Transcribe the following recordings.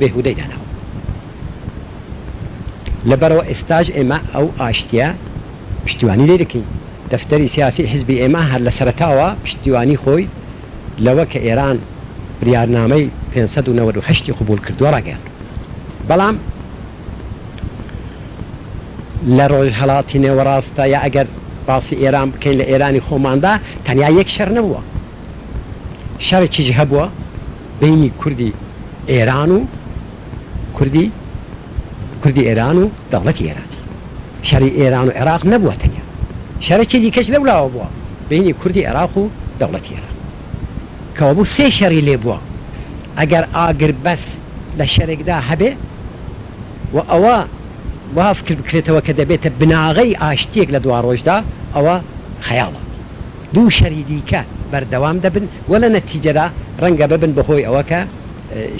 بێهودەی داناوە لەبەرئەوە ئێستاش ئێمە ئەو ئاشتیە پشتیوانی لێی دەکەین دەفتەری سیاسی حزبی ئێمە هەر لەسەرەتاوە پشتیوانی خۆی لەوە کە ئێران بریارنامەی پێنج سەد و نەوەد و هەشت ی قبوڵ کردوە ڕاگەیاند بەڵام لە ڕۆژهەڵاتی نێوەڕاستدا یا ئەگەر باسی ئێران بکەین لە ئێرانی خۆماندا تەنیا یەک شەر نەبوە. شەرێکیش هەبووە بەینی کوردی ئێران و کوردی کوردی ئێران و دەوڵەتی ئێران شەری ئێران و عێراق نەبووە تەنیا شەرێکی دیکەش لەو لاوە بووە بەینی کوردی عێراق و دەوڵەتی ئێران کەوە بوو سێ شەری لێ بووە ئەگەر ئاگر بەس لە شەرێکدا هەبێ و ئەوە وا فکر بکرێتەوە کە دەبێتە بناغەی ئاشتیەک لە دواڕۆژدا ئەوە خەیاڵە. دوو شەری دیکە بەردەوام دەبن و لە نەتیجەدا ڕەنگە ببن بە هۆی ئەوە کە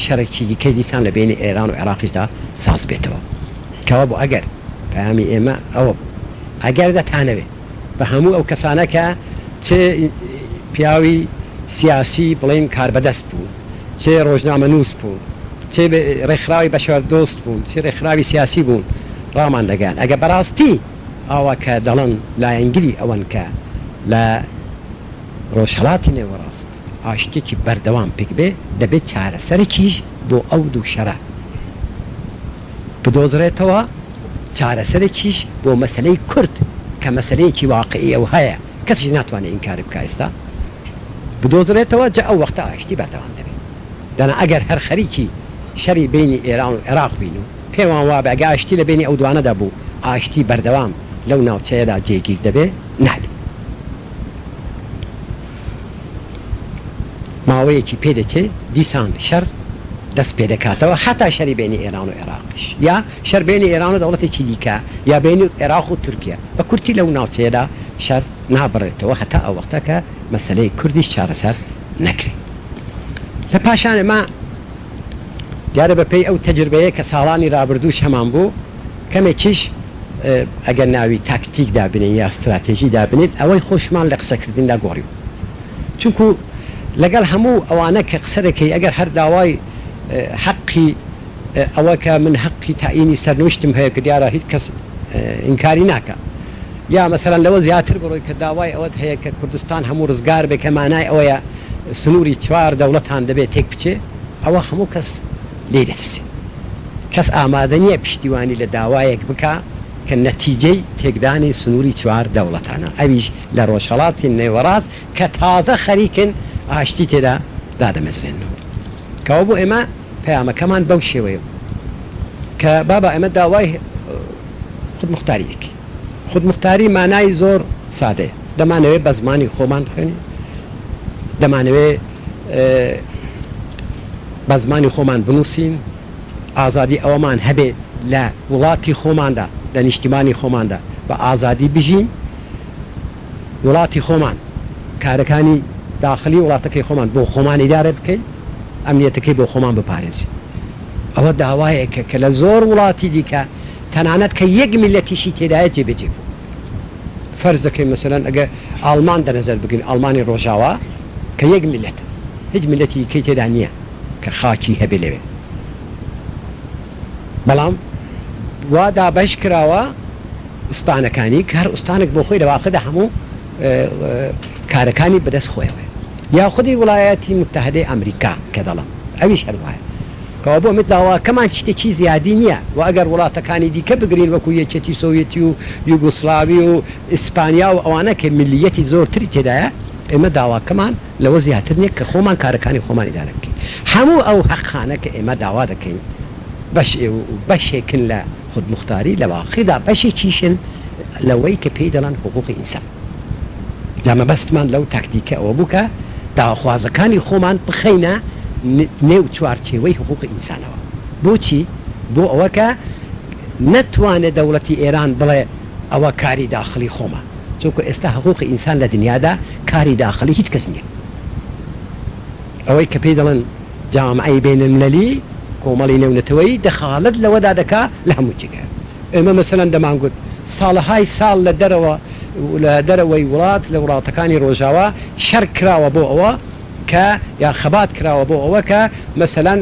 شەرێکی دیکەی دیسان لە بەینی ئێران و عێراقیشدا ساز بێتەوە. کەوابوو ئەگەر پەیامی ئێمە ئەوە بوو ئەگەر دەتانەوێ بە هەموو ئەو کەسانە کە چ پیاوی سیاسی بڵێین کاربەدەست بوون، چ ڕۆژنامەنووس بوون، چ ڕێکخراوی بەشەردۆست بوون، چ ڕێکخراوی سیاسی بوون ڕامان دەگەیاند ئەگەر بەڕاستی. ئاوا کە دەڵێن لایەنگری ئەوەن کە لە ڕۆژهەڵاتی نێوەڕاست ئاشتیەکی بەردەوام پکبێ، دەبێ چارەسەرەکیش بۆ ئەو دوو شەرە بدۆزرێتەوە، چارەسەرەکیش بۆ مەسەلەی کورد کە مەسەلەیەکی واقعیە و هەیە کەسیش ناتوانێ ئینکاری بکا ئێستا بدۆزرێتەوە جا ئەو وەختە ئاشتی بەردەوام دەبێ. دەنا ئەگەر هەر خەریکی شەری بەینی ئێران و عێراق بین و. پێمان وابێ ئەگە ئاشتی لە بەینی ئەو دوانەدا بوو ئاشتی بەردەوام لەو ناوچەیەدا جێگیر دەبێ نابێ ماوەیەکی پێ دەچێ دیسان شەر دەست پێ دەکاتەوە هەتا شەری بەینی ئێران و ئێراقیش یا شەر بەینی ئێران و دەوڵەتێکی دیکە یا بەینی ئێراق و تورکیە بە کورتی لەو ناوچەیەدا شەر نابڕێتەوە هەتا ئەو وەختە کە مەسەلەی کوردیش چارەسەر نەکرێ لە پاشان ئێمە دیارە بە پێی ئەو تەجربەیە کە ساڵانی رابردووش هەمان بوو کەمێکیش ئەگەر ناوی تاکتیک دابنێین یا ستراتێژی دابنێین ئەوەی خۆشمان لە قسە کردندا گۆڕیوە چونکو لەگەڵ هەموو ئەوانە کە قسە دەکەی ئەگەر هەر داوای حەقی ئەوە کە من حەقی تەعینی سەرنوشتم هەیە کە دیارە هیچ کەس ئینکاری ناکا. یا مەسەلەن لەوە زیاتر بڕۆی کە داوای ئەوەت هەیە کە کوردستان هەموو ڕزگار بێ کە مانای ئەوەیە سنووری چوار دەوڵەتان دەبێ تێک بچێ ئەوە هەموو کەس لێی دەترسێ کەس ئامادە نییە پشتیوانی لە داوایەک بکا کە نەتیجەی تێکدانی سنووری چوار دەوڵەتانە ئەویش لە ڕۆژهەڵاتی نێوەڕاست کە تازە خەریکن ئاشتی تێدا دادەمەزرێننەوە کەوابوو ئێمە پەیامەکەمان بەو شێوەیە بوو کە بابا ئێمە داوای خودموختاری دەکەین. خودموختاری مانای زۆر سادەیە، دەمانەوێت بە زمانی خۆمان بخوێنین، دەمانەوێت بە زمانی خۆمان بنووسین، ئازادی ئەوەمان هەبێت لە وڵاتی خۆماندا، لە نیشتیمانی خۆماندا بە ئازادی بژین، وڵاتی خۆمان، کارەکانی داخلی وڵاتەکەی خۆمان بۆ خۆمان ئیدارە بکەین، ئەمنیەتەکەی بۆ خۆمان بپارێزین. ئەوە داوایەکە کە لە زۆر وڵاتی دیکە تەنانەت کە یەک میللەتیشی تێدایە جێبەجێ بوو فەرز دەکەین مەسەلەن ئەگەر ئاڵمان دەنەزەر بگرین ئاڵمانی ڕۆژاوا کە یەک میللەتە هیچ میللەتی دیکەی تێدا نییە کە خاکی هەبێ لەوێ بەڵام وا دابەش کراوە ئوستانەکانی کە هەر ئوستانێک بۆ خۆی لەواقعدا هەموو کارەکانی بەدەست خۆیەوەیە یا خودی وڵایەتی متحدەی ئەمریکا کە دەڵم ئەویش هەر وایە کەوا بۆ مت داواکەمان شتێکی زیادی نیە وە ئەگەر وڵاتەکانی دیکە بگرین وەکو یەکێتی سۆویەتی و یوگۆسلاوی و ئیسپانیا و ئەوانە کە میللیەتی زۆرتری تێدایە ئێمە داواکەمان لەوە زیاتر نیە کە خۆمان کارەکانی خۆمان ئیدارە بکەین هەموو ئەو هەقانە کە ئێمە داوا دەکەین بەش بەشێکن لە خودموختاری لە واقیدا بەشێکیشن لەوەی کە پێی دەڵێن حقوقی ئینسان. جا مەبەستمان لەو تاکتیکە ئەوە بوو کە داواخوازەکانی خۆمان بخەینە نێو چوارچێوەی حقووقی ئینسانەوە. بۆچی؟ بۆ ئەوە کە نەتوانێ دەوڵەتی ئێران بڵێ ئەوە کاری داخڵی خۆمە. چونکوو ئێستا حقووقی ئینسان لە دنیادا کاری داخڵی هیچ کەس نییە. ئەوەی کە پێی دەڵێن جامعەی بین المللی، کۆمەڵی نێونەتەوەیی، دەخالەت لەوەدا دەکا لە هەموو جێگایەک. ئێمە مەسەلەن دەمانگوت ساڵەهای ساڵ لە دەرەوە لە دەرەوەی وڵات لە وڵاتەکانی ڕۆژاوا شەر کراوە بۆ ئەوە کە یا خەبات کراوە بۆ ئەوە کە مەسەلەن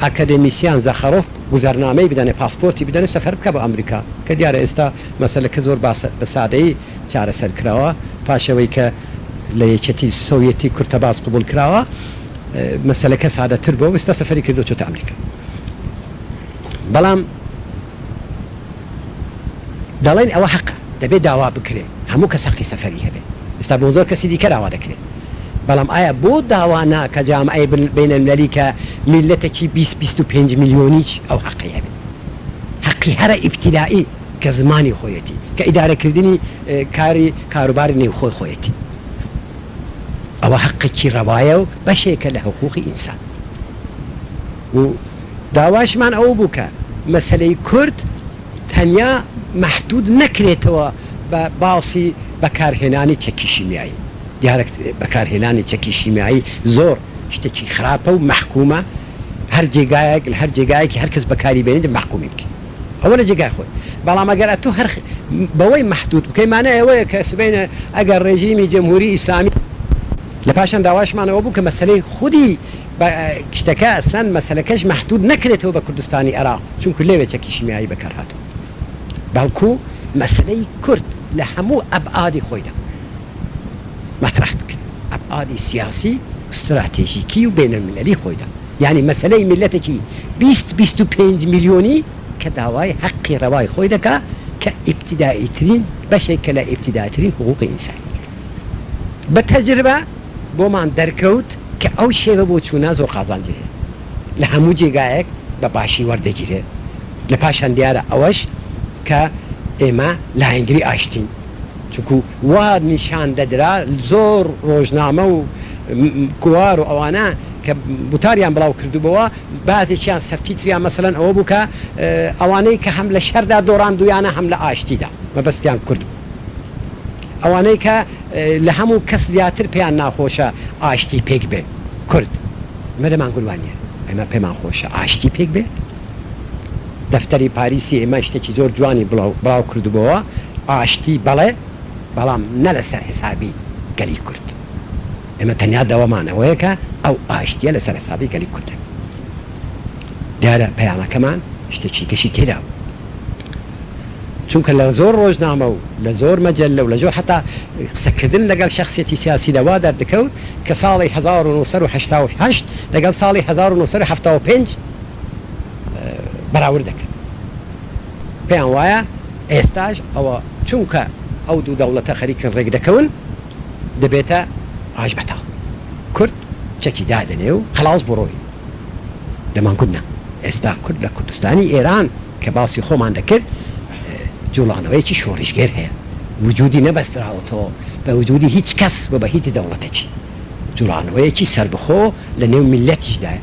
ئاکادێمیسیان زاخارۆف گوزەرنامەی بدەنێ پاسپۆرتی بدەنێ سەفەر بکا بۆ ئامریکا کە دیارە ئێستا مەسەلەکە زۆر بە سادەیی چارەسەر کراوە پاش ئەوەی کە لە یەکێتی سۆویەتی کورتەباز قبوڵ کراوە مەسەلەکە سادەتر بۆ وستا سەفەری کردو چۆتە ئەمریکا بەڵام دەڵێن ئەوە حەقە دەبێت داوا بکرێ هەموو کە سەقی سەفەری هەبێ ئستا بۆ زۆر کەسی دیکە داوا دەکرێت بەڵام ئایا بۆ داوا ناکە جام ئەی بینەلەلی کە میلەتەکی 20 25 میلیۆنیچ ئەو حەقی هەبێ حەقی هەرە ئیبتیدائی کە زمانی خۆیەتی، کە ئیدارەکردنی کاری کاروباری نێوخۆی خۆیەتی، ئەوە هەقێکی ڕەوایە و بەشێکە لە حقووقی ئینسان و داواشمان ئەوە بوو کە مەسەلەی کورد تەنیا مەحدوود نەکرێتەوە بە باسی بەکارهێنانی چەکی شیمیایی، دیارە بەکارهێنانی چەکی شیمیایی زۆر شتێکی خراپە و مەحکوومە، هەر جێگایەک لە هەر جێگایەکی هەر کەس بەکاری بێنێت مەحکوومین. ئەوە لە جێگای خۆی بەڵام ئەگەر ئەتو هەر بەوەی مەحدود بکەی مانای ئەوەیە کە سبەینێ ئەگەر ڕێژیمی جمهوری ئیسلامی لە پاشان داواشمان ئەوە بوو کە مەسەلەی خودی بە شتەکە ئەسلەن مەسەلەکەش مەحدود نەکرێتەوە بە کوردستانی ئێراق چونکو لەوێ چەکی شیمیایی بەکار هاتووە بەڵکو مەسەلەی کورد لە هەموو ئەبعادی خۆیدا مەترەح بکرێ ئەبعادی سیاسی و ستراتێژیکی و بەینەلمللی خۆیدا. یانی مەسەلەی میللەتەکی بیست بیست و پێنج میلیۆنی کە داوای هەقی ڕەوای خۆی دەکا کە ئیبتیدائیترین بەشێکە لە ئیبتیدائیترین حقووقی ئینسانی. بە تەجربە بۆمان دەرکەوت کە ئەو شێوە بۆچوونە زۆر قازانجی هەیە. لە هەموو جێگایەک بە باشی وەردەگیرێ. لە پاشان دیارە ئەوەش کە ئێمە لایەنگری ئاشتین. چونکوو. وا نیشان دەدرا زۆر ڕۆژنامە و گۆوار و ئەوانە کە وتاریان بڵاو کردبۆوە بازێکیان سەرتی تریان مەسەلەن ئەوە بوو کە ئەوانەی کە هەم لە شەردا دۆڕاندوویانە هەم لە ئاشتیدا مەبەستیان کورد بوو ئەوانەی کە لە هەموو کەس زیاتر پێیان ناخۆشە ئاشتی پێک بێ کورد مەرەمان گوروان نیە ئێمە پێمان خۆشە ئاشتی پێک بێ. دەفتەری پاریسی ئێمە شتێکی زۆر جوانی بڵاو بڵاو کردبۆوە، ئاشتی بەڵێ بەڵام نە لە سەر حسابی گەلی کورد. ئێمە تەنیا دەوەمان ئەوەیە کە ئەو ئاشتیە لە سەر حسابی گەلی کورد نەبێ. دیارە پەیامەکەمان شتێکی گەشی تێدا بوو. چونکە لە زۆر ڕۆژنامە و لە زۆر مەجەللە و لە زۆر حەتا قسە کردن لە گەڵ شەخسیەتی سیاسی لە وا دەردکەوت کە ساڵی هەزار و نۆ سەد و هەشتا و هەشت لە گەڵ ساڵی هەزار و نۆ سەد و حەفتا و پێنج بەراورد دەکەن پێیان وایە ئێستاش ئەوە چونکە ئەو دوو دەوڵەتە خەریکن ڕێک دەکەون دەبێتە ڕاژ بەتاڵ کورد چەکی دادەنێ و خەڵاس بڕۆی لە مانگورت نا ئێستا کورد لە کوردستانی ئێران کە باسی خۆمان دەکرد جوڵانەوەیەکی شۆڕیشگێر هەیە وجودی نەبەستراوەتەوە بە وجودی هیچ کەس و بە هیچ دەوڵەتێکی جوڵانەوەیەکی سەربەخۆ لە نێو میللەتیشدایە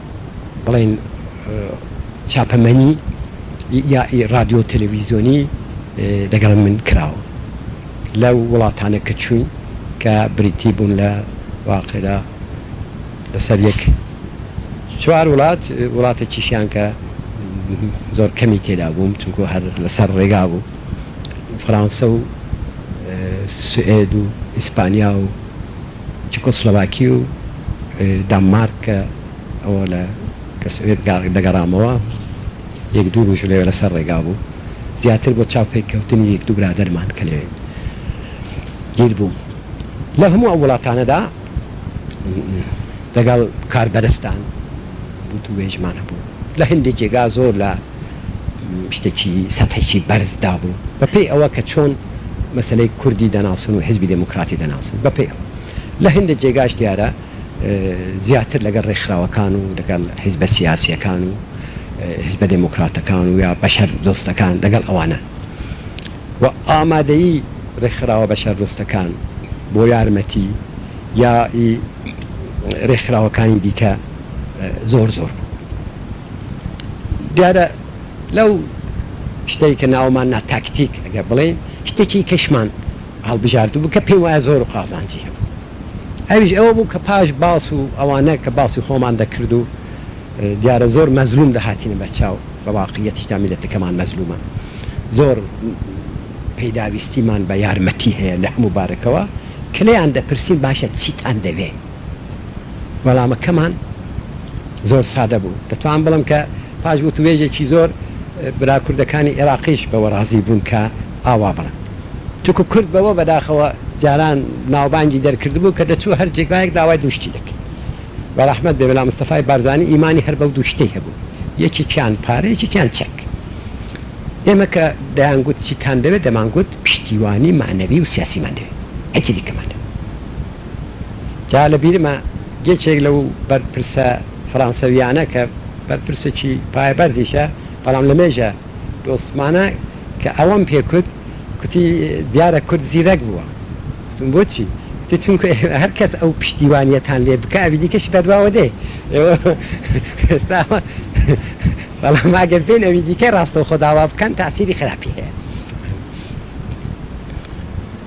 بڵێن چاپەمەنی یا ڕادیۆ تەلەویزیۆنی لەگەڵ من کراوە لەو وڵاتانە کە چووین کە بریتی بوون لە واقعدا لەسەر یەک چوار وڵات وڵاتێکیشیان کە زۆر کەمی تێدا بووم چونکو هەر لەسەر ڕێگا بوو فەرانسە و سوئێد و ئیسپانیا و چکۆسلۆڤاکی و دانمارک کە ئەوە لە کە سۆڤێت دەگەڕامەوە یەک دوو ڕۆژ لەوێ لەسەر ڕێگا بوو زیاتر بۆ چاو پێک کەوتنی یەک دوو برادەرمان کە لەوێ گیر بوو لە هەموو ئەو وڵاتانەدا دەگەڵ کاربەدەستان وتووێژمان هەبوو لە هەندێک جێگا زۆر لە شتێکی سەتحێکی بەرز دابوو بەپێی ئەوە کە چۆن مەسەلەی کوردی دەناسن و حیزبی دێمۆکڕاتی دەناسن بەپێی ئەوە لە هێندێ جێگاش دیارە زیاتر لەگەڵ ڕێکخراوەکان و لەگەڵ حیزبە سیاسییەکان و حیزبە دێمۆکڕاتەکان و یا بەشەر دۆستەکان لەگەڵ ئەوانە و ئامادەیی ڕێکخراوە بەشەر دۆستەکان بۆ یارمەتی یا ڕێکخراوەکانی دیکە زۆر زۆر بوو. دیارە لەو شتەی کە ناومان نا تاکتیک ئەگەر بڵێین شتێکی کەشمان هەڵبژاردو بوو کە پێی وایە زۆر و قازانجی هەبوو ئەویش ئەوە بوو کە پاش باس و ئەوانە کە باسی خۆمان دەکرد و دیارە زۆر مەزلوم دەهاتینە بەرچاو بە واقعیەتی تا میلەتەکەمان مەزلومە زۆر پێداویستیمان بە یارمەتی هەیە لە هەموو بارەکەوە کلیان دەپرسین باشە چیتان دەوێ؟ وەڵامەکەمان زۆر سادە بوو، دەتوانم بڵێم کە پاش وتووێژێکی زۆر برا کوردەکانی ئێراقیش بەوە ڕازی بوون کە ئاوا بڵێن، چونکوو کورد بەوە بەداخەوە جاران ناوبانگی دەرکردبوو کە دەچوو هەر جێگایەک داوای دوو شتی دەکرد، بە ڕەحمەت بێ مەلا مستەفای بارزانی ئیمانی هەر بەو دوو شتەی هەبوو، یەکێکیان پارە یەکێکیان چەک، ئێمە کە دەیانگوت چیتان دەوێت دەمانگوت پشتیوانی مەعنەوی و سیاسیمان دەوێت، هیچی دیکەمان نەبوو. جا لە بیرمە یەکێک لەو بەرپرسە فرانسەویانە کە بەرپرسێکی پایەبەرزیشە بەڵام لە مێژە دۆستمانە کە ئەوەم پێ کوت کوتی دیارە کورد زیرەک بووە کوتم بۆچی کوتی چونکو ئێوە هەر کەس ئەو پشتیوانیەتان لێ بکا ئەوی دیکەشی بەدواوە دێ ئێوە ئێستا بەڵام ئەگەر بێن ئەوی دیکە ڕاستەوخۆ داوا بکەن تاسیری خراپی هەیە.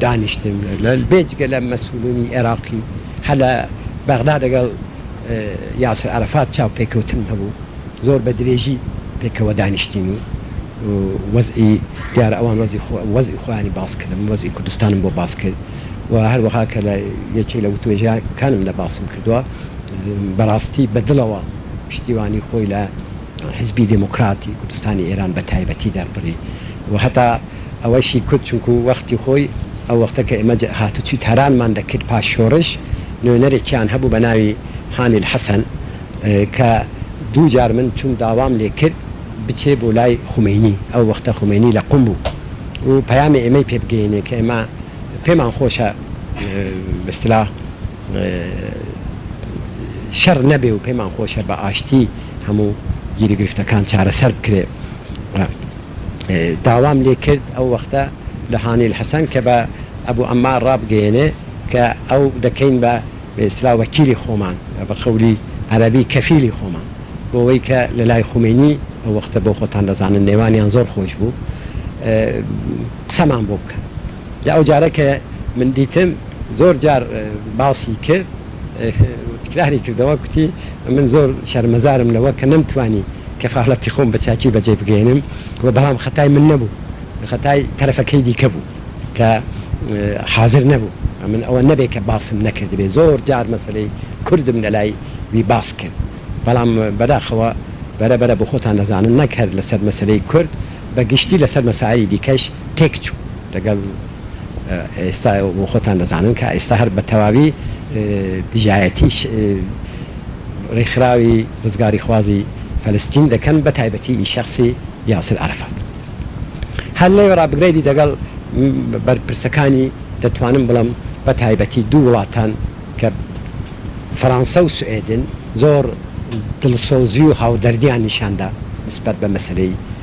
دانیشتن بێجگە لە مەسولینی عێراقی هەر لە بەغدا لەگەڵ یاسر عەرەفات چاوپێکەوتنم هەبوو زۆر بە درێژی پێکەوە دانیشتین و وەزعی دیارە ئەوان وەزعی خۆیانی باس کرد من وەزعی کوردستانم بۆ باس کرد و هەروەها کە لە یەکێ لە وتوێژەکانم لە باسم کردوە بەراستی بە دڵەوە پشتیوانی خۆی لە حزبی دێمۆکراتی کوردستانی ئێران بە تایبەتی دەربڕی و هەتا ئەوەشی کوت چونکو وەختی خۆی ئەو وەختە کە ئێمە هاتوچوی تارانمان دەکرد پاش شۆرش نوێنەرێکیان هەبوو بە ناوی حامیل حەسەن کە دوو جار من چوم داوام لێ کرد بچێ بۆ لای خومەینی ئەو وەختە خومەینی لە قوم بوو و پەیامی ئێمەی پێ بگەینێ کە ئێمە پێمان خۆشە بە اصطلاح شەڕ نەبێ و پێمان خۆشە بە ئاشتی هەموو گیروگرفتەکان چارەسەر بکرێ. داوام لێ کرد ئەو وەختە لە هانیل حەسەن کە بە ئەبو عەمار ڕابگەیەنێ کە ئەو دەکەین بە بە ئیستلاح وەکیلی خۆمان و بە قەولی عەرەبی کەفیلی خۆمان بۆ وەی کە لە لای خومەینی ئەو وەختە بۆ خۆتان دەزانن نێوانیان زۆر خۆش بوو قسەمان بۆ بکەن جا ئەو جارە کە من دیتم زۆر جار باسی کرد. تکراری کردەوە کوتی من زۆر شەرمەزارم لەوە کە نەمتوانی کەفالەتی خۆم بە چاکی بەجێ بگەیەنم و بەڵام خەتای من نەبوو خەتای تەرەفەکەی دیکە بوو کە حازر نەبوو من ئەوە نەبێ کە باسم نەکردبێ زۆر جار مەسەلەی کوردم لەلای وی باس کرد بەڵام بەداخەوە بەرە بەرە بۆخۆتان نەزانن نەک هەر لەسەر مەسەلەی کورد بە گشتی لەسەر مەسایلی دیکەش تێک چوو لەگەڵ ئێستا و خۆتان دەزانن کە ئێستا هەر بەتەواوی دژایەتی ڕێکخراوی ڕزگاریخوازی فەلستین دەکەن بە تایبەتی ئی شەخسی یاسر عەرەفات هەر لێ وەڕا بگرەیدی دەگەڵ بەرپرسەکانی دەتوانم بڵێم بە تایبەتی دوو وڵاتان کە فەرانسە و سوئێدن زۆر دڵسۆزی و هاودەردیان نیشان دا نسبەت بە مەسەلەی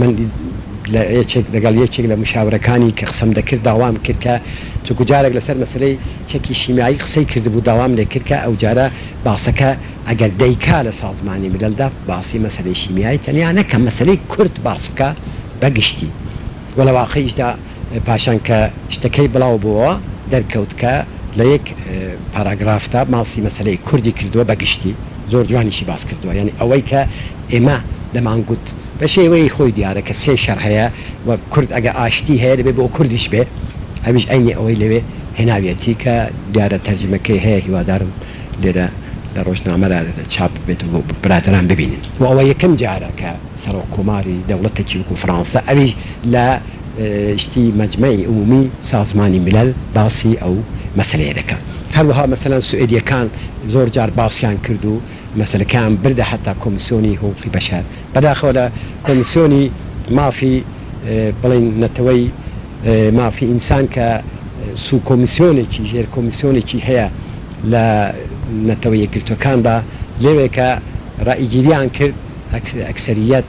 من لە یەکێک لەگەڵ یەکێک لە مشاورەکانی کە قسەم دەکرد داوام کرد کە چونکو جارێک لەسەر مەسەلەی چەکی شیمیایی قسەی کردبوو داوام لێ کرد کە ئەوجارە باسەکە ئەگەر دەیکا لە سازمانی مللدا باسی مەسەلەی شیمیایی تەنیا نەکا مەسەلەی کورد باس بکا بە گشتی و لە واقعیشدا پاشان کە شتەکەی بڵاو بۆوە دەرکەوت کە لە یەک پاراگرافدا باسی مەسەلەی کوردی کردووە بە گشتی زۆر جوانیشی باس کردووە یانی ئەوەی کە ئێمە دەمان گوت بە شێوەی خۆی دیارە کە سێ شەر هەیە و کورد ئەگە ئاشتی هەیە دەبێ بۆ کوردیش بێ ئەویش عەینی ئەوەی لەوێ هێناویەتی کە دیارە تەرجمەکەی هەیە هیوادارم لێرە لە ڕۆژنامەرا چاپ ببێت و برادەران ببینن و ئەوە یەکەم جارە کە سەڕۆک کۆماری دەوڵەتەکی وەکوو فڕانسە ئەویش لە گشتی مەجمەعی عمومی سازمانی ملل باسی ئەو مەسەلەیە دەکات هەروەها مەسەلەن سوئێدیەکان زۆر جار باسیان کرد و مەسەلەکەیان بردە حەتا کۆمسیۆنی حقوقی بەشەر بەداخەوە لە کۆمسیۆنی مافی بڵێن نەتەوەی مافی ئینسان کە سو کۆمسیۆنێکی ژێر کۆمسیۆنێکی هەیە لە نەتەوە یەکگرتوەکاندا لەوێ کە ڕائیگیریان کرد ئەکسەریەت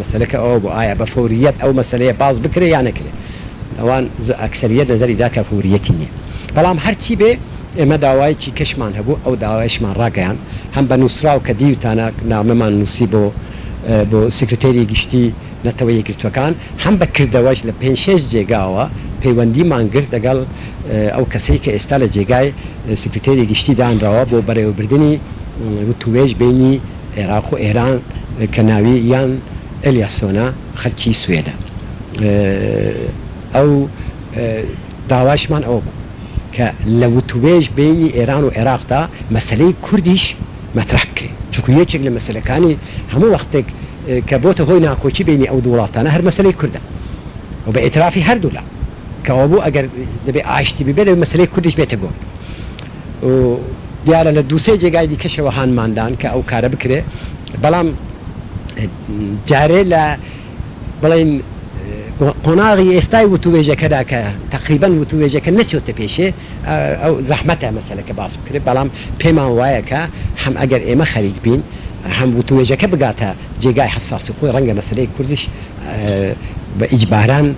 مەسەلەکە ئەوە بوو ئایا بە فەورییەت ئەو مەسەلەیە باس بکرێ یا نەکرێ، ئەوان ئەکسەرییەت نەزەری دا کە فەورییەتی نییە. بەڵام هەر چی بێ ئێمە داوایەکی کەشمان هەبوو، ئەو داوایەشمان ڕاگەیاند، هەم بە نووسراو کە دیوتانە نامەمان نووسی بۆ بۆ سکرتێری گشتی نەتەوە یەکگرتووەکان، هەم بە کردەوەش لە پێنج شێش جێگاوە پەیوەندیمان گرت دەگەڵ ئەو کەسەی کە ئێستا لە جێگای سکرتێری گشتی دانراوە بۆ بەڕێوەبردنی وتووێژ بەینی عێراق و ئێران کە ناوی یان ئێلیاسۆنە خەلکی سوێدە ئەو داوایشمان ئەوە بوو کە لە وتوێژ بەینی ئێران و عێراقدا مەسەلەی کوردیش مەترەح بکرێ چونکو یەکێک لە مەسەلەکانی هەموو وەختێک کە بۆتە هۆی ناکۆکی بەینی ئەو دوو وڵاتانە هەر مەسەلەی کوردە و بە ئیترافی هەردوو لا کەوابوو ئەگەر دەبێ ئاشتی ببێ دەبێ مەسەلەی کوردیش بێتە گۆ و دیارە لە دوو سێ جێگای دیکەشەوە هانماندان کە ئەو کارە بکرێ بەڵام جارێ لە بڵێن قۆناغی ئێستای وتوێژەکەدا کە تقریبان وتوێژەکە نەچۆتە پێشێ ئەو زەحمەتە مەسەلەکە باس بکرێت بەڵام پێمان وایە کە هەم ئەگەر ئێمە خەریک بین هەم وتوێژەکە بگاتە جێگای حساسی خۆی ڕەنگە مەسلەی کوردش بە ئیجباران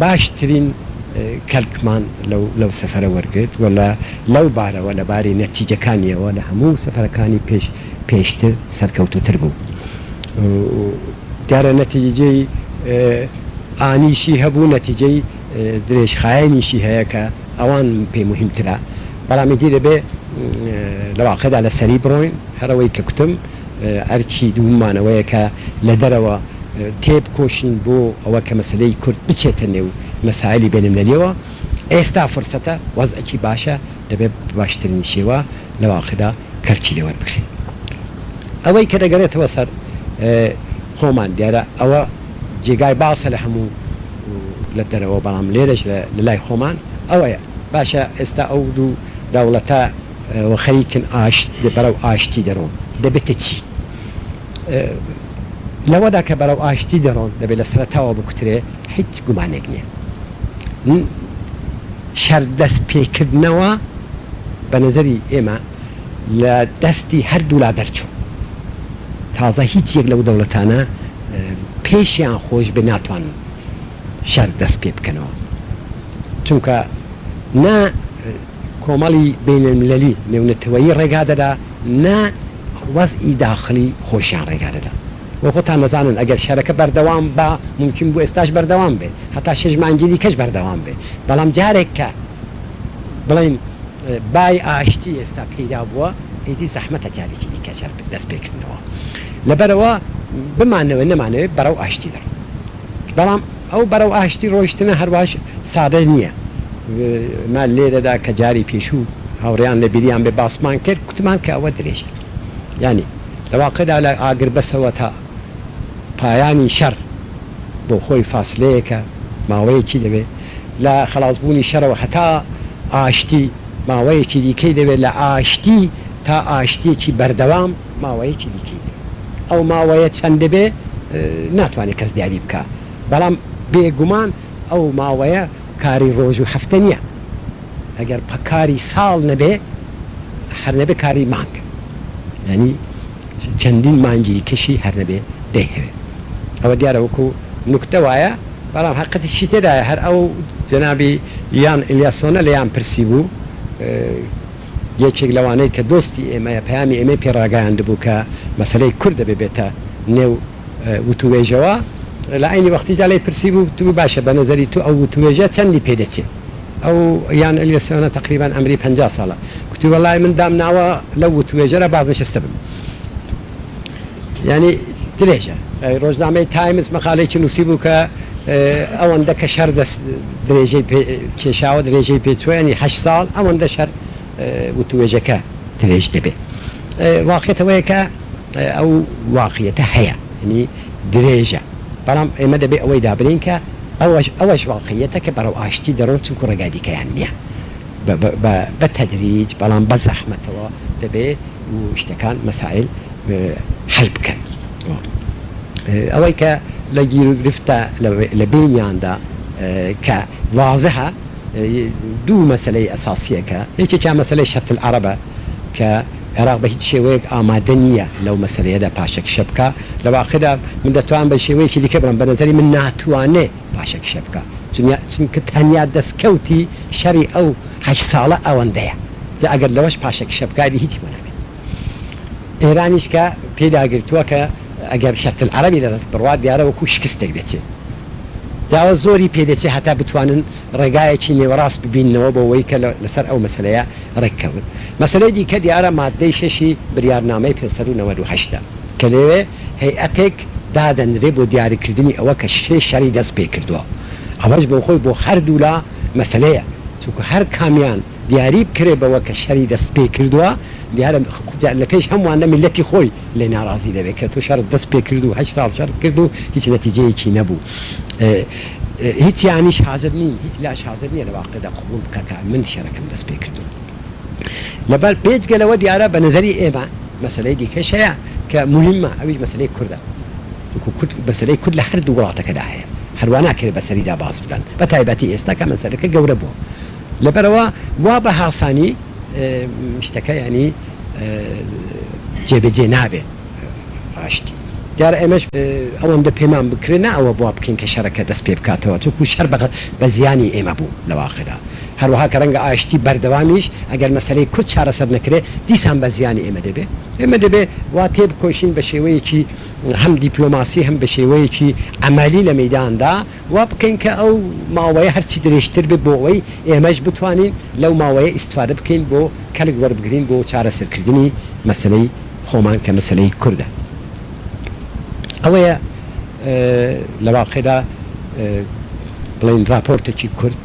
باشترین کەلکمان لەو سەفەرە وەرگرت و لەو بارەوە، لە باری نەتیجەکانییەوە لە هەموو سەفەرەکانی پێشتر سەرکەوتووتر بوو. دیارە نەتیجەی ئانیشی هەبوو، نەتیجەی درێژخایەنیشی هەیە کە ئەوان پێی موهیمترە، بەڵام ئیدی دەبێ لە واقعدا لەسەری بڕۆین، هەرەوەی کە کوتم. ئەرکی دووم مان ئەوەیە کە لە دەرەوە تێبکۆشین بۆ ئەوە کە مەسەلەی کورد بچێتە نێو مەسایلی بێنملەلیەوە، ئێستا فرسەتە، وەزعێکی باشە، دەبێ بە باشترین شێوە لە واقعدا کەلکی لێ وەربگرین. ئەوەی کە دەگەرێتەوە سەر خۆمان دیارە ئەوە جێگای باسە لە هەموو لە دەرەوە بەڵام لێرەش لە لای خۆمان ئەوەیە باشە ئێستا ئەو دوو دەوڵەتە، و خەریکن ئاشت بەرەو ئاشتی دەرۆن دەبێ تە چی لەوەدا کە بەرەو ئاشتی دەرۆن دەبێ لە سەرەتاوە بکوترێ هیچ گومانێک نیە ن شەر دەست پێکردنەوە بە نەزەری ئێمە لە دەستی هەر دوو لا دەرچوو تازە هیچ یەک لەو دەوڵەتانە پێشیان خۆش بێ ناتوانن شەر دەست پێ بکەنەوە چونکە نا کۆمەڵی بەینەلمللی نێونەتەوەیی ڕێگا دەدا نە وەزعی داخڵی خۆشیان ڕێگا دەدا و خۆتان دەزانن ئەگەر شەرەکە بەردەوام با مومکین بوو ئێستاش بەردەوام بێ هەتا شەش مانگی دیکەش بەردەوام بێ بەڵام جارێک کە بڵێین بای ئاشتی ئێستا پەیدا بووە ئیدی زەحمەتە جارێکی دیکەش هەر دەست پێ کردنەوە لەبەرئەوە بمانەوێ نەمانەوێ بەرەو ئاشتی دەڕۆین. بەڵام ئەو بەرەو ئاشتی ڕۆیشتنە هەرواش سادە نییە. من لێرەدا کە جاری پێشوو هاوڕێیان لە بیریان بێ باسمان کرد، گوتمان کە ئەوە درێژە یانی لە واقعدا لە ئاگربەسەوە تا پایانی شەڕ بۆ خۆی فاسلەیەکە، ماوەیەکی دەوێت لە خەڵاس بوونی شەرەوە هەتا ئاشتی، ماوەیەکی دیکەی دەوێت لە ئاشتی تا ئاشتییەکی بەردەوام. ماوەیەکی دیکەی دەوێت ئەو ماوەیە چەند دەبێت ناتوانێت کەس دیاری بکا بەڵام بێگومان ئەو ماوەیە کاری ڕۆژ و هەفتە نیە ئەگەر کاری ساڵ نەبێ هەر نەبێ کاری مانگ یانی چەندین مانگی دیکەشی هەر نەبێ دەیهەوێت ئەوە دیارە وەکو نوکتە وایە بەڵام هەقەتیشی تێدایە هەر ئەو جەنابی یان ئلیاسۆنە لێیان پرسی بوو یەکێک لەوانەی کە دۆستی ئێمەیە پەیامی ئێمەی پێ ڕاگەیاندبوو کە مەسەلەی کورد دەبێ بێتە نێو وتووێژەوە، لە عەینی وەختیشدا لێی پرسیبوو وتبوو باشە بە نەزەری تۆ ئەو وتووێژە چەندی پێ دەچێ؟ ئەو یان ئەلیۆ سۆنە تەقریبەن عەمری پەنجا ساڵە گوتی وەڵای من دامناوە لەو وتووێژەرا بازنشستە بم. یانی درێژە ڕۆژنامەی تایمز مەقالەیەکی نووسی بوو کە ئەوەندە کە شەر دەست درێژەی کێشاوە درێژەی پێچوەنی هە ساڵ ئەوەندە شەر وتوێژەکە درێژ دەبێت واقعێتەوەیە کە ئەو واقعەتە هەیە ینی درێژە بەڵام ئێمە دەبێ ئەوەی دابرین کە ئەوەش ئەوەش واقعیەتە کە بەرەو ئاشتی دەڕۆن چونکو ڕێگادیکەیان نییە بە تەدریج بەڵام بە زەحمەتەوە دەبێت و شتەکان مەسایل حەل بکەن و ئەوەی کە لە گیروگرفتە لە بینیاندا کە وازحە دوو مەسەلەی ئەساسیە کە یەکێکیان مەسەلەی شەتل عەرەبە کە عێراق بە هیچ شێوەیەک ئامادە نیە لەو مەسەلەیەدا پاشەکشە بکا لە واقعدا من دەتوانم بە شێوەیەکی دیکە بڵێم بە نەزەری من ناتوانێ باشە کشە بکە چونیا چونکە تەنیا دەسکەوتی شەڕی ئەو هەشت ساڵە ئەوەندەیە جا ئەگەر لەوەش پاشە کشە بکا ئیدی هیچی بۆ ناکەی ئێرانیش کە پێی داگرتوە کە ئەگەر شەرت العربی لە دەست بڕوا دیارە وەکو شکستێک دەچێ جاوە زۆری پێ دەچێ هەتا بتوانن ڕێگایەکی نێوەڕاست ببیننەوە بۆ وەی کە لەسەر ئەو مەسەلەیە ڕێک کەون مەسەلەی دیکە دیارە ماددەی شەشی بریارنامەی پێنج سەد و نەوەد و هەشت ە کە لێێ هەیئەتێک دادەنرێ بۆ دیاریکردنی ئەوە کە کێ شەڕی دەست پێ کردووە، ئەوەش بۆخۆی بۆ هەردوولا مەسەلەیە، چونکە هەر کامیان دیاری بکرێ بەوە کە شەری دەست پێ کردووە، دیارە جا لە پێش هەموانە میللەتی خۆی لێ ناڕازی دەبێ کە تۆ شەڕت دەست پێ کرد و هەشت ساڵ شەڕت کرد و هیچ نەتیجەیەکی نەبوو. هیچیانیش حازر نین، هیچ لاش حازر نییە لە واقیعدا قبووڵ بکا کە من شەرەکەم دەست پێ کردووە. لەبەر بێجگە لەوە دیارە بە نەزەری ئێمە مەسەلەی دیکەش هەیە کە موهیمە ئەویش مەسەلەی کوردە وەکو کورد مەسەلەی کورد لە هەردوو وڵاتەکەدا هەیە هەروا ناکرێت بەسەریدا باس بکەن بە تایبەتی ئێستا کە مەسەلەکە گەورە بووە لەبەرەوە وا بە هاسانی شتەکە ینی جێبەجێ نابێت ڕاشتی دیارە ئێمەش ئەوەندە پێمان بکرێت نا ئەوە بوا بکەین کە شەرەکە دەست پێ بکاتەوە چونکو شەر بەقەت بە زیانی ئێمە بوو لە واقعدا هەروەها کە رەنگە ئاشتی بەردەوامیش ئەگەر مەسەلەی کورد چارەسەر نەکرێ دیسان بە زیانی ئێمە دەبێ. ئێمە دەبێ وا تێبکۆشین بە شێوەیەکی هەم دیپلۆماسی هەم بە شێوەیەکی عەمەلی لە مەیداندا وا بکەین کە ئەو ماوەیە هەرچی درێژتر بێ بۆ ئەوەی ئێمەش بتوانین لەو ماوەیە ئیستفادە بکەین بۆ کەلک وەربگرین بۆ چارەسەرکردنی مەسەلەی خۆمان کە مەسەلەی کوردە. ئەوەیە لە واقیعدا بڵێین راپۆرتێکی کورت.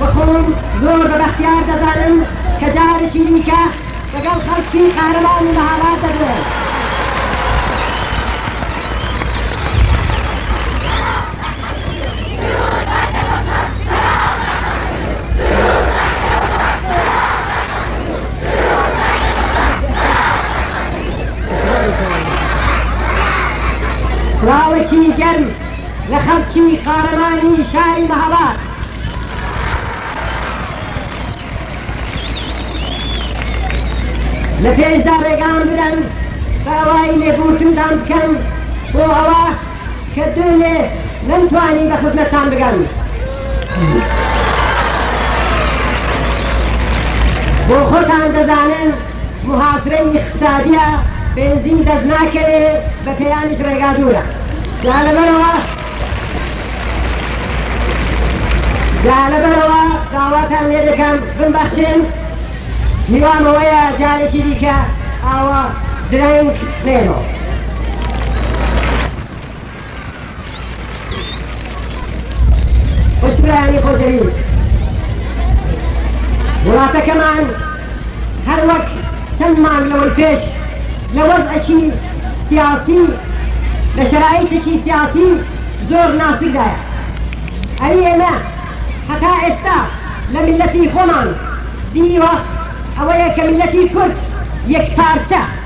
و خۆم زۆر بە بەختیار دەزانم کە جارێکی دیکە لەگەڵ خەڵکی قارەمان و مەهاباد دەگرێم. سڵاوێکی گەرم لە خەڵکی قارەمانی شاری مەهاباد. لە پێشدا ڕێگام بدەن بە ئەوای لێبوورتنتان بکەم بۆ ئەوە کە دوێنێ نەمتوانی بە خزمەتتان بگەم بۆ خۆتان دەزانن محاسرەی اقتصادیە بێنزین دەست ناکەوێ بە پێیانیش ڕێگا دوورە جا لەبەرەوە جا لەبەرئەوە داواتان لێ دەکەم بمبەخشن هیوام ئەوەیە جارێکی دیکە ئاوا درەنگ نێرۆ. خوشکرانی خۆشەویست وڵاتەکەمان هەروەک چەند مانگ لەوەی پێش لە وەزعێکی سیاسی لە شەرایتێکی سیاسی زۆر ناسکدایە ئەی ئێمە هەتا ئێستا لە میلەتی خۆمان دیوە ئەوەیە کە میلەتی کورد یەکپارچە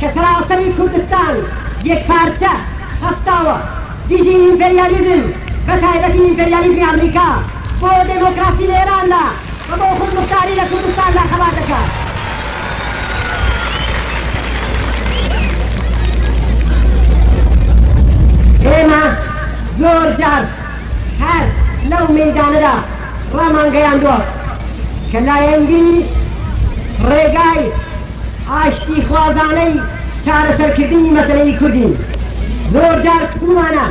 کە کەراتەی کوردستان یەکپارچە خستەوە دژی ئیمپریالیزم بە تایبەتی ئیمپریالیزمی ئەمریکا بۆ دێمۆکراسی لە ئێراندا و بۆ خودموختاری لە کوردستاندا خەبات دەکات. ئێمە زۆر جار هەر لەو مەیدانەدا ڕامانگەیاندوە کە لایەنگری ڕێگای ئاشتیخوازانەی چارەسەرکردنی مەسەلەی کوردین. زۆر جار پێموانە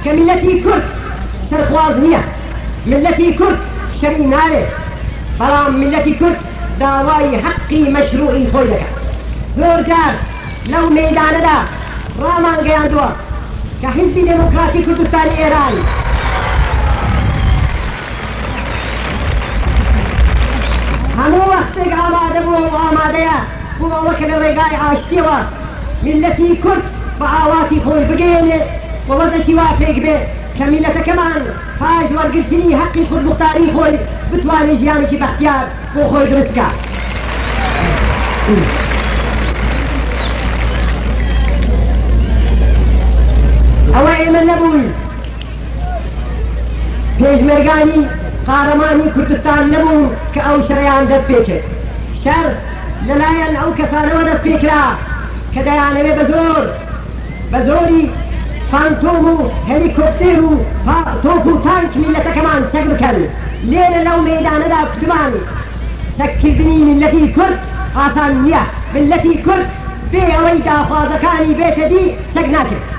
کە میللەتی کورد سەرخواز نییە، میللەتی کورد شەری ناوێ، بەڵام میللەتی کورد داوای هەقی مەشروعی خۆی دەکات. زۆر جار لەو مەیدانەدا ڕامانگەیاندووە کە حیزبی دێموکراتی کوردستانی ئێران، هەموو وەختێک ئامادە بووە و ئامادەیە بۆ ئەوە کە لە ڕێگای ئاشتییەوە میللەتی کورد بە ئاواتی خۆی بگەیەنێت و وەزعێکی وا پێک بێت کە میللەتەکەمان پاش وەرگرتنی هەقی خودموختاریی خۆی بتوانێت ژیانێکی بەختیار بۆ خۆی دروست بکات. پێشمەرگانی قارەمانی کوردستان نەبوون کە ئەو شەڕەیان دەست پێ کرد، شەڕ لە لایەن ئەو کەسانەوە دەست پێ کرا کە دەیانەوێ بە زۆر بە زۆری فانتۆم و هەلیکۆپتێر و پا تۆپ و تانک میللەتەکەمان چەک بکەن، لێرە لەو مەیدانەدا کوتمان چەک کردنی میللەتی کورد ئاسان نییە، میللەتی کورد بێ ئەوەی داخوازەکانی بێتە دی چەک ناکرێ.